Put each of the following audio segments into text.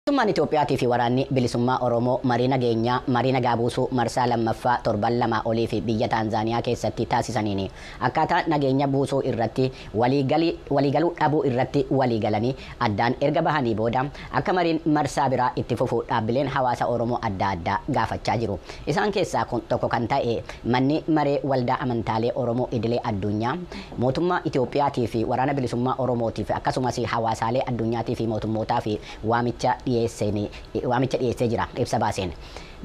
Mootummaan Itoophiyaatii fi Waraanni Bilisummaa Oromoo marii nageenyaa, marii nagaa buusuu marsaa 2ffaa torban lamaa oliif biyya Taanzaaniyaa keessatti taasisaniin akkaataa nageenya buusuu irratti waliigaluu dhabuu irratti waliigalanii addaan erga bahanii booda akka mariin marsaa biraa itti fufu dhaabbileen hawaasa Oromoo adda addaa gaafachaa jiru. Isaan keessaa tokko kan ta'e Manni Maree Waldaa Amantaalee Oromoo Idilee Adduunyaa Mootummaa Itoophiyaatii fi Waraana Bilisummaa Oromootiif akkasumas hawaasaalee adduunyaatii fi mootummootaaf waamicha dhiyeessee jira. Ibsa baaseen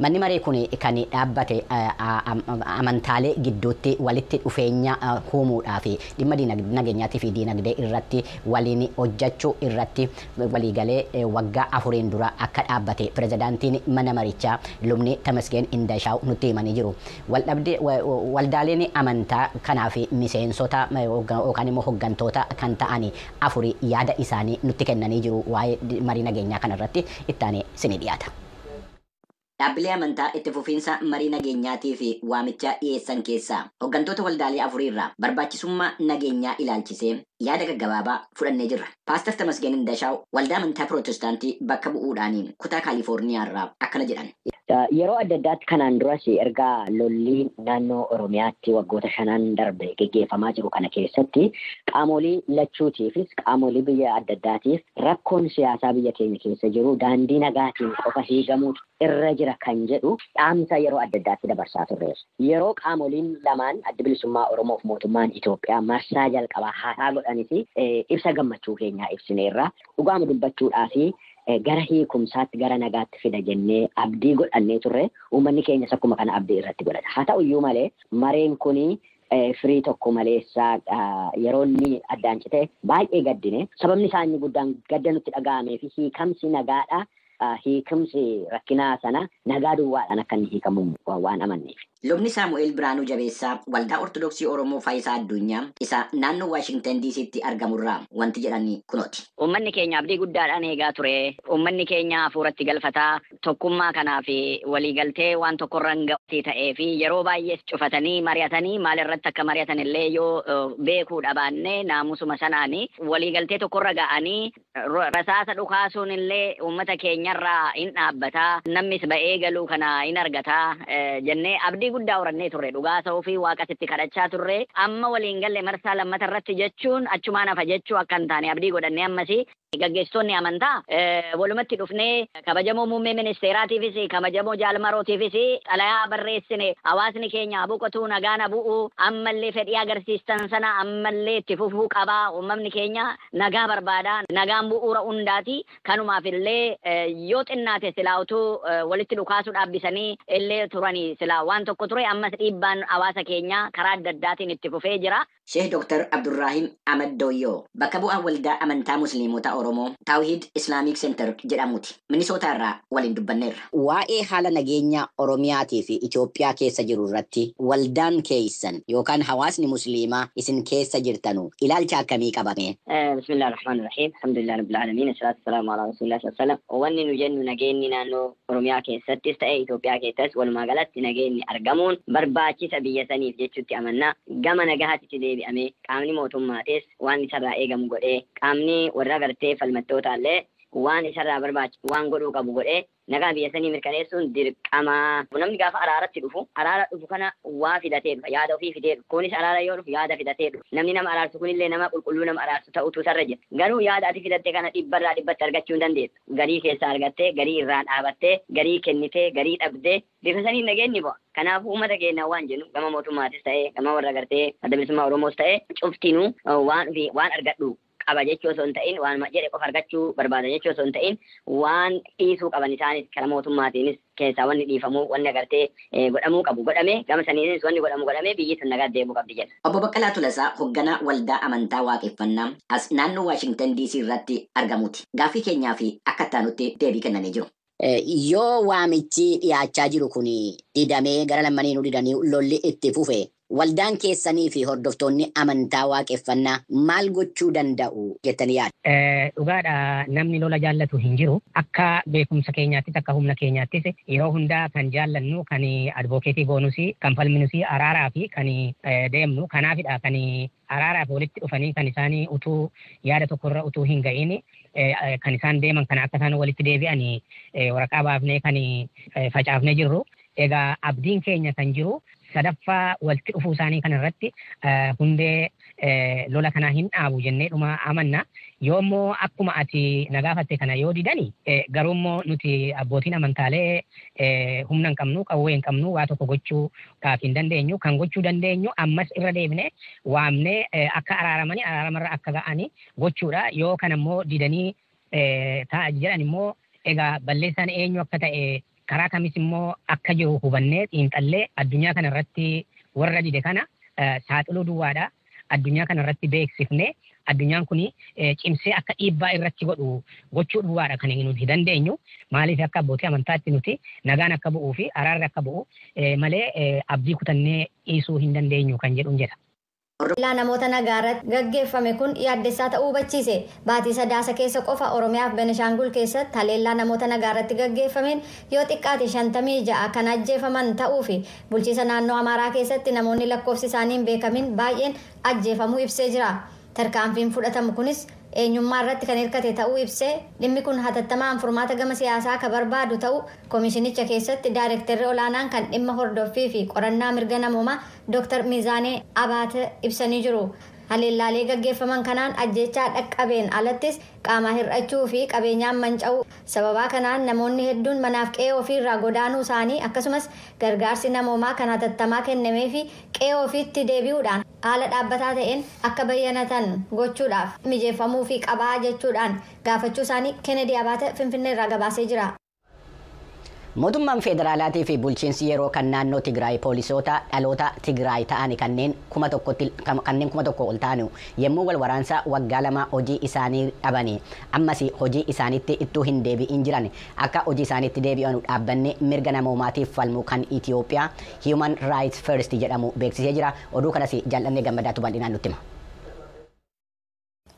Manni Maree kun kan dhaabbate amantaalee gidduutti walitti dhufeenya huumuudhaa fi dhimma nageenyaatii fi diinagdee irratti waliin hojjachuu irratti waliigalee waggaa afuriin dura akka dhaabbate Pirezidaantiin Mana Marichaa Lubni Temesgeen Indashaaw nutti himanii jiru. Waldaaleen amantaa kanaaf miseensota yookaan immoo hoggantoota kan ta'an afuri yaada isaanii nutti kennanii jiru waa'ee marii nageenyaa kana irratti itti aanee isinii dhiyaata. Dhaabbilee amantaa itti fufiinsa marii nageenyaatiif waamicha dhiyeessan keessaa hoggantoota waldaalee afurii irraa barbaachisummaa nageenyaa ilaalchisee yaada gaggabaabaa fudhannee jirra. Paastar Tamasgeen Indashaaw waldaa amantaa Pirootestaantii bakka bu'uudhaan kutaa Kaalifoorniyaa irraa akkana jedhan. Yeroo adda addaatti kanaan duras erga lolli naannoo Oromiyaatti waggoota shanan darbe geggeeffamaa jiru kana keessatti qaamoolii lachuutiifis qaamoolii biyya adda addaatiif rakkoon siyaasaa biyya keenya keessa jiru daandii nagaatiin qofa hiigamuutu irra jira kan jedhu dhaamsa yeroo adda addaatti dabarsaa turreerra. Yeroo qaamooliin lamaan Addi Bilisummaa Oromoof Mootummaan Itoophiyaa marsaa jalqabaa haasaa godhanis ibsa gammachuu keenyaa ibsineerra. Dhugaama dubbachuudhaaf gara hiikumsaatti, gara nagaatti fida jennee abdii godhannee turre. Uummanni keenyas akkuma kana abdii irratti godhata. Haa ta'u iyyuu malee mareen kun firii tokko maleessa yeroo inni addaan cite baay'ee gaddine. Sababni isaa inni guddaan gadda nutti dhaga'amee fi hiikamsi nagaadhaa hiikumsi rakkinaa sana nagaa duwwaadhaan akka inni hiikamu waan amanneefi. Lubni Saamu'eel Biraanuu Jabeessaa Waldaa Ortodoksii Oromoo Faayisaa Adduunyaa isa naannoo Waashingtan DCtti argamurraa wanti jedhan kunooti. Uummanni keenya abdii guddaadhaan eegaa ture. Uummanni keenya hafuuratti galfataa tokkummaa kanaa fi waliigaltee waan tokkorra hin ga'utti ta'ee fi yeroo baay'ees cufatanii mari'atanii maalirratti akka mari'atanillee yoo beekuu dhabaanne naamusuma sanaan waliigaltee tokkorra ga'anii Rasaasa dhukaasuun illee uummata keenyarraa in dhaabbata, namnis ba'ee galuu kana in argata jennee abdii guddaa horannee turre. Dhugaa hasahuufi Waaqas itti kadhachaa turre. Amma walii hin galle marsaa lammata irratti jechuun achumaan hafa jechuu akka hin taane abdii godhannee ammas gaggeessitoonni amantaa walumatti dhufnee kabajamoo muummee ministeeraatiifis kabajamoo jaal marootiifis xalayaa barreessine hawaasni keenya haa boqotuu nagaan haa bu'u ammallee fedhii agarsiistan sana ammallee itti fufuu qaba uummamni keenya Nagaa barbaada. Nagaan bu'uura hundaati. Kanumaaf illee yoo xinnaate silaa utuu walitti dhukaasuu dhaabbisanii illee turanii silaa waan tokko ture. Ammas dhiibbaan hawaasa keenyaa karaa adda addaatiin itti fufee jira. Sheeh Dr. Abdurraahim Ahmad Dooyyoo bakka bu'aa Waldaa Amantaa Musliimota Oromoo Tawhiid Islamic Center jedhamuuti. Minisootaa irraa waliin dubbanneerra. Waa'ee haala nageenyaa Oromiyaatii fi Itoophiyaa keessa jiru irratti waldaan keessan yookaan hawaasni Musliimaa isin keessa jirtanu ilaalcha akkamii qaba mee? Bismillah Ar-Rahmaan Ar-Rahiim Alhamdulillah Rabbil Aalamiin As-Salaatu As-Salaamu Alaa Rasuulillah Sallallaahu Aleyhi wa Sallam Wanni nu jennu nageenni naannoo Oromiyaa keessattis ta'e Itoophiyaa keessatti walumaa galatti nageenni argamuun barbaachisa biyya saniif jechutti amanna. Gama nagahatitti deebi'amee qaamni mootummaatis waan isarraa eegamu godhee qaamni warra gartee falmattootaallee waan isarraa barbaachisu waan godhuu qabu godhee nagaa biyya sanii mirkaneessuun dirqama. Namni gaafa araaratti dhufu araara dhufu kana waa filatee dhufa, yaada ofii fidee dhufa. Kunis araara yoo dhufu yaada filatee dhufa. Namni nama araarsu kunillee nama qulqulluu nama araarsu ta'utu isarra jira. Garuu yaada ati filatte kana dhibbarraa dhibbatti argachuu hin dandeessu. Garii keessaa argattee, garii irraa dhaabattee, garii kennitee, garii dhabdee bifa saniin nageenyi bu'a. Kanaafuu uummata keenyaan waan jennu gama mootummaatis ta'ee gama warra gartee adda bilisummaa Oromoos ta'ee cuftinuu waan ofii waan argadhu qaba jechuu osoo hin ta'in waanuma jedhe qofa argachuu barbaada jechuu osoo hin ta'in waan dhiisuu qaban isaanis kara mootummaatiinis keessaa wanni dhiifamuu wanni agartee godhamuu qabu godhame gama saniinis wanni godhamu godhamee biyyi tun nagaatti deebi'uu qabdi jenna. Obbo Baqqalaa Tolasaa hogganaa waldaa amantaa Waaqeffannaa as naannoo Waashingtan DC irratti argamuuti. Gaaffii keenyaaf akka ittaanutti deebii kennanii jiru. Yoo waamichi dhiyaachaa jiru kun didamee gara lammaniinuu didanii lolli itti fufe waldaan keessanii fi hordoftoonni amantaa waaqeffannaa maal gochuu danda'u jettanii yaaddu? Dhugaadha namni lola jaallatu hin jiru. Akka beekumsa keenyaattis akka humna keenyaattis yeroo hunda kan jaallannu, kan advocacy goonus, kan falminus araaraa fi kan deemnu kanaafidha. Kan araaraaf walitti dhufanii kan isaan utuu yaada tokko irra utuu hin ga'iin kan isaan deeman kana akka isaan walitti deebi'an waraqaa baafnee kan facaafnee jirru. Egaa abdiin keenya kan jiru sadaffaa walitti dhufuu isaanii kana irratti hundee lola kanaa hin dhaabu jennee dhuma amanna. Yoo immoo akkuma ati na gaafatte kana yoo didani garuu immoo nuti abbootiin amantaalee humna hin qabnu, qawwee hin qabnu, waa tokko gochuu Ka ittiin dandeenyu, kan gochuu dandeenyu ammas irra deebinee waamnee akka araaramani araaramarra akka ga'ani gochuudha. Yoo kana immoo didanii ta'a jedhan immoo egaa balleessaan eenyu akka ta'e karaa kamis immoo akka jiru hubannee xiinxallee addunyaa kana irratti warra dide kana saaxiluu duwwaadha. addunyaa kana irratti beeksifne addunyaan kun cimsee akka dhiibbaa irratti godhu gochuu duwwaadha kan nuti dandeenyu. Maaliif akka abbootii amantaatti nuti nagaan akka bu'uu fi araarri akka bu'u malee abdii kutannee dhiisuu hin dandeenyu kan jedhun jedha. Haleellaa namoota nagaa irratti gaggeeffame kun yaaddessaa ta'uu hubachiise. Baatii Sadaasa keessa qofa Oromiyaa fi Beneshaangul keessatti haleellaa namoota nagaa irratti gaggeeffameen yoo xiqqaate 56 kan ajjeefaman ta'uu fi Bulchiisa naannoo Amaaraa keessatti namoonni lakkoofsi isaanii hin beekamin baay'een ajjeefamuu ibsee jira. Tarkaanfiin fudhatamu kunis eenyummaa irratti kan hirkate ta'uu ibsee, dhimmi kun hatattamaan furmaata gama siyaasaa ka barbaadu ta'uu komishinicha keessatti daarekterri olaanaan kan dhimma hordoffii fi qorannaa mirga namoomaa Dr. Mizaanee Abaate ibsanii jiru. Haleellaalee gaggeeffaman kanaan ajjeechaa dhaqqabeen alattis qaamaa hir'achuu fi qabeenyaan manca'uu, Sababaa kanaan namoonni hedduun manaaf qe'ee ofii irraa godaanuu isaanii akkasumas gargaarsi namoomaa kan hatattamaa kennameefii qe'ee ofiitti deebi'uudhaan haala dhaabbataa ta'een akka bayyanatan gochuudhaaf mijeeffamuufii qabaa jechuudhaan gaafachuu isaanii Kennedy Abaate Finfinnee irraa gabaasee jira. Mootummaan Feederaalaatii fi Bulchiinsi Yeroo kan Naannoo Tigraay Poolisoota dhaloota Tigraay ta'ani kanneen kuma tokkotti kanneen kuma tokkoo ol ta'anu yemmuu wal waraansa waggaa lamaa hojii isaanii dhabani ammasi hojii isaanitti ittuu hin deebi'in jiran akka hojii isaanitti deebi'anu dhaabbanni mirga namoomaatiif falmu kan Itiyoophiyaa Human Rights First jedhamu beeksisee jira. Oduu kanasi Jaal'annee Gammadaatu bal'inaan nutti hima.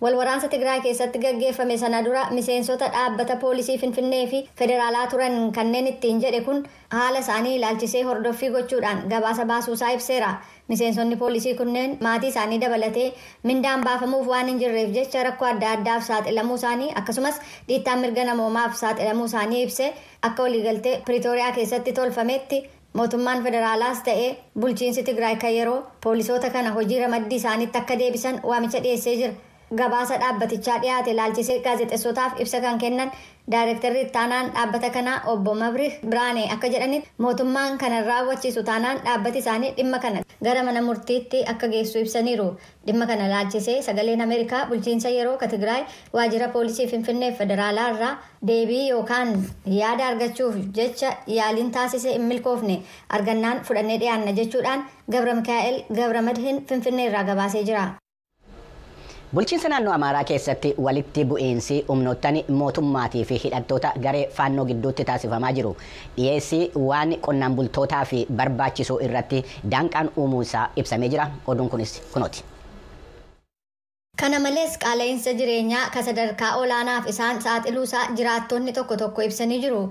Wal waraansa Tigraay keessatti gaggeeffame sana dura miseensota dhaabbata poolisii Finfinnee fi Federaalaa turan kanneen ittiin jedhe kun haala isaanii ilaalchisee hordoffii gochuudhaan gabaasa baasuusaa ibseera. Miseensonni poolisii kunneen maatii isaanii dabalatee mindaan baafamuuf waan hin jirreef jecha rakkoo adda addaaf saaxilamuu isaanii akkasumas dhiittaa mirga namoomaaf saaxilamuu isaanii ibsee akka waliigaltee Piriitooriyaa keessatti tolfameetti Mootummaan federaalaas ta'e bulchiinsi Tigraay kan yeroo, poolisoota kana hojii ramaddii isaaniitti akka deebisan waamicha dhiyeessee jira. Gabaasa dhaabbatichaa dhiyaate ilaalchisee gaazexessootaaf ibsa kan kennan Daayrektarri Ittaanaan dhaabbata kanaa Obbo Mabrih Biraanee akka jedhanitti, mootummaan kana hin raawwachiisu taanaan dhaabbati isaanii dhimma kana gara mana murtiitti akka geessu ibsaniiru. Dhimma kana ilaalchisee Sagaleen Ameerikaa bulchiinsa yeroo ka Tigraay waajjira poolisii Finfinnee fi Federaalaa irraa deebii yookaan yaada argachuuf jecha yaaliin taasise hin milkoofne. Argannaan fudhannee dhiyaanna jechuudhaan Gabramikaa'el Gabramadhin Finfinnee irraa gabaasee jira. Bulchiinsa naannoo Amaaraa keessatti walitti bu'iinsi humnoottan mootummaatii fi hidhattoota garee Faannoo gidduutti taasifamaa jiru dhiyeessii waan qonnaan bultootaaf barbaachisuu irratti daanqaan uumuunsaa ibsamee jira. Oduun kunis kunooti. Kana malees qaala'iinsa jireenyaa ka sadarkaa olaanaaf isaan saaxiluusaa jiraattonni tokko tokko ibsanii jiru.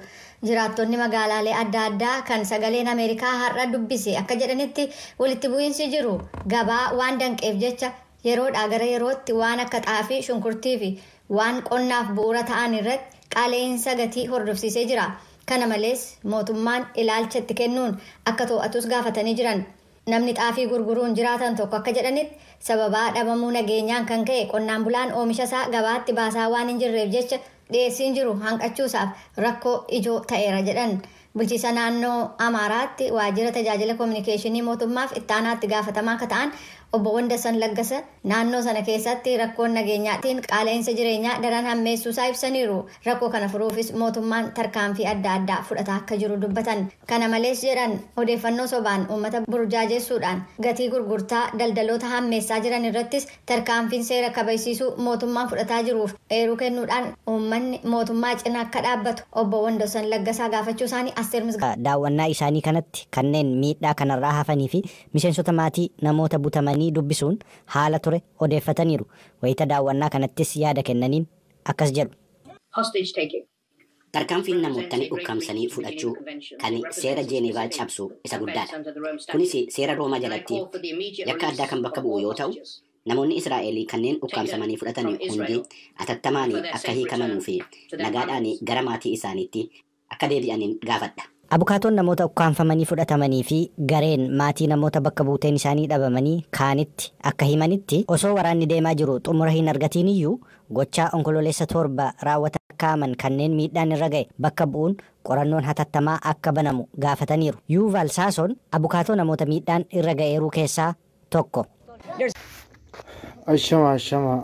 Jiraattonni magaalaalee adda addaa kan Sagaleen Ameerikaa har'a dubbise akka jedhanitti walitti bu'iinsi jiru gabaa waan danqeef jecha Yeroodhaa gara yerootti waan akka xaafii, shunkurtiifi waan qonnaaf bu'uura ta'an irratti qaala'iinsa gatii hordofsiisee jira. Kana malees, mootummaan ilaalcha itti kennuun akka to'atus gaafatanii jiran. Namni xaafii gurguruun jiraatan tokko akka jedhanitti, sababaa dhabamuu nageenyaan kan ka'e qonnaan bulaan oomishasaa gabaatti baasaa waan hinjirreef jecha dhiyeessiin jiru hanqachuusaaf rakkoo ijoo ta'eera jedhan. Bulchiisa naannoo Amaaraatti waajjira tajaajila kominikeeshinii mootummaaf ittaanaa itti gaafatamaa akka ta'an obbo Wandassan Laggasa naannoo sana keessatti rakkoon nageenyaatiin qaala'insa jireenyaa daran hammeessuusaa ibsaniiru. Rakkoo kana furuufis mootummaan tarkaanfii adda addaa fudhataa akka jiru dubbatan. Kana malees jedhan odeeffannoo sobaan uummata burjaajessuudhaan gatii gurgurtaa daldaloota hammeessaa jiran irrattis Tarkaanfiin seera kabajsiisuu mootummaan fudhataa jiruuf eeruu kennuudhaan uummanni mootummaa cina akka dhaabbatu Obbo Wandossan Laggasaa gaafachuu isaanii Asteer Misgaanaaw. Daawwannaa isaanii kanatti kanneen miidhaa kanarraa hafanii fi miseensota maatii namoota butamanii dubbisuun haala ture odeeffataniiru. Wayita daawwannaa kanattis yaada kennaniin akkas jedhu. hostage taking, Tarkaanfiin namoottan ukkaamsanii fudhachuu kan seera Jeeneevaa cabsu isa guddaadha. Kunis seera Roomaa jalatti yakka addaa kan bakka bu'u yoo ta'u, namoonni Israa'el kanneen ukkaamsamanii fudhatan hundi atattamaan akka hiikamanu fi nagaadhaan gara maatii isaaniitti akka deebi'an gaafadha. Abukaatoon namoota ukkaamfamanii fudhatamanii fi gareen maatii namoota bakka buuteen isaanii dhabamanii kaanitti akka himanitti, osoo waraanni deemaa jiru xumura hin argatiin iyyuu gochaa Onkololeessa 7 raawwatan lakkaa'aman kanneen miidhaan irra ga'e bakka bu'uun qorannoon hatattamaa akka banamu gaafataniiru. Yuuvaal Saasoon abukaatoo namoota miidhaan irra ga'eeruu keessaa tokko. Ashama ashama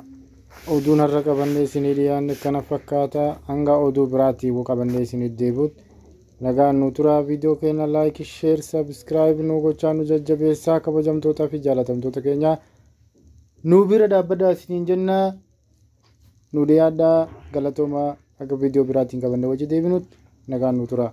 oduun har'a qabannee isinii dhiyaanne kana fakkaata hanga oduu biraatii qabannee isinii deebi'ut nagaan nu turaa viidiyoo keenya laayik sheer sabskiraayib nu gochaa nu jajjabeessaa kabajamtootaa fi jaalatamtoota keenyaa nu bira dhaabbadaa isiniin jennaa nu dhiyaadhaa galatoomaa akka viidiyoo biraatiin qabannee wajji deebinutti nagaan nu turaa.